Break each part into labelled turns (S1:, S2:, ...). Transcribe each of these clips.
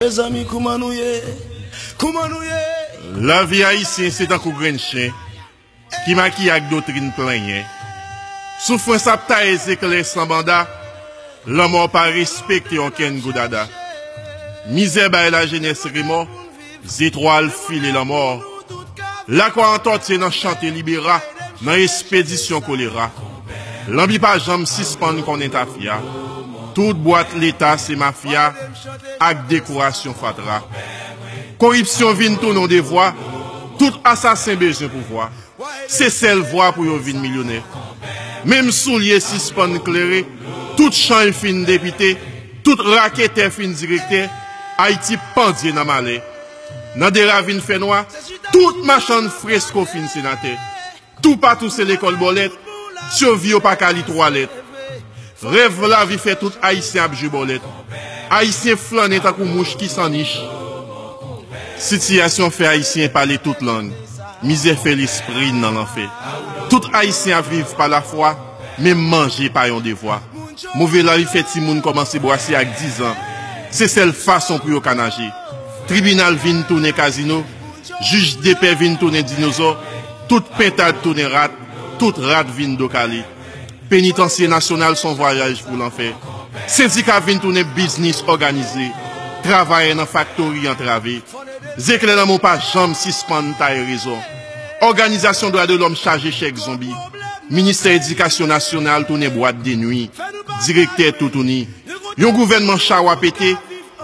S1: Mezanmi kouman nou ye, kouman nou ye.
S2: Lavi Ayisyen se tankou grenn chen ki makiye ak doktrin plenyen. Soufrans ap taye zeklè san banda, lanmò pa respekte okenn goudada. Mizè bay lajenès remò. Zetwal file lanmò Lakwa antòtye nan chante libera Nan espedisyon kolera Lanbi pa janm sispann konnen tafya Tout bwat leta se mafya Ak dekorasyon fatra Koripsyon vin tounen yon devwa Tout asasen bezwen pouvwa Se sèl vwa pou yo vin milyonè Menm soulye sispann klere Tout chany fin depite Tout raketè fin direktè, Ayiti pandye nan malè, Nan de ravin fè nwa, tout machann fresko fin senatè, Toupatou se lekòl bòlèt, Sirvi yo pa ka li twa lèt, Rèv lavi fè tout Ayisyen ap jwe bòlèt, Ayisyen flannen tankou mouch ki san nich, Sitiyasyon fè Ayisyen pale tout lang, Mizè fè lespri n nan lanfè, Tout Ayisyen ap viv pa lafwa. Menm manje pa yon devwa. Move lari fè timoun kòmanse bwase ak dizan. Se sèl fason pou yo ka naje. Tribinal vin tounen kazino. Jij depè vin tounen dinozò. Tout pentad tounen rat. Tout rat vin do kale. Penitansye nasyonal s on vwayaj pou lanfè. Sendika vin tounen biznis òganize. Travayè nan faktori antrave. Zeklè lanmou pa janm sispann taye rezon. Òganizasyon dwa de lòm chaje chèk zonbi, ministè edikasyon nasyonal tounen bwat de nwi, direktè toutouni, yon gouvènman chawa pete,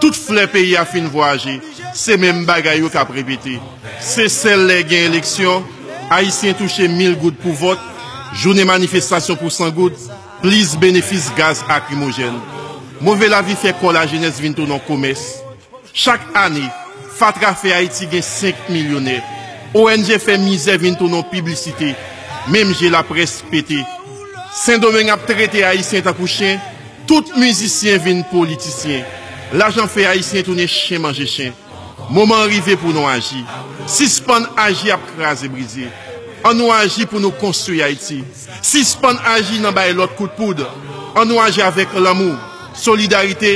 S2: tout flè peyi a fin vwayaje, se menm bagay yo k ap repete. Se sèl lè gen eleksyon, Ayisyen touche mil goud pou vòt, jounen manifestasyon pou san goud, plis benefis gaz akrimojèn. Move lavi fè kò lajenès vin tounen yon komès. Chak ane, fatra fè Ayiti gen 5 milyonè. ONG fè mizè vin tounon piblisite, menm je laprès pete. Sendomeng ap trete Ayisyen tankou chen, tout mizisyen vin politisyen. Lajan fè Ayisyen tounen chen manje chen. Moman an rive pou nou aji. Sispann aji ap kraze brize. An nou aji pou nou konstwi Ayiti. Sispann aji nan bay lòt kout poud. An nou aji avèk lanmou, solidarite,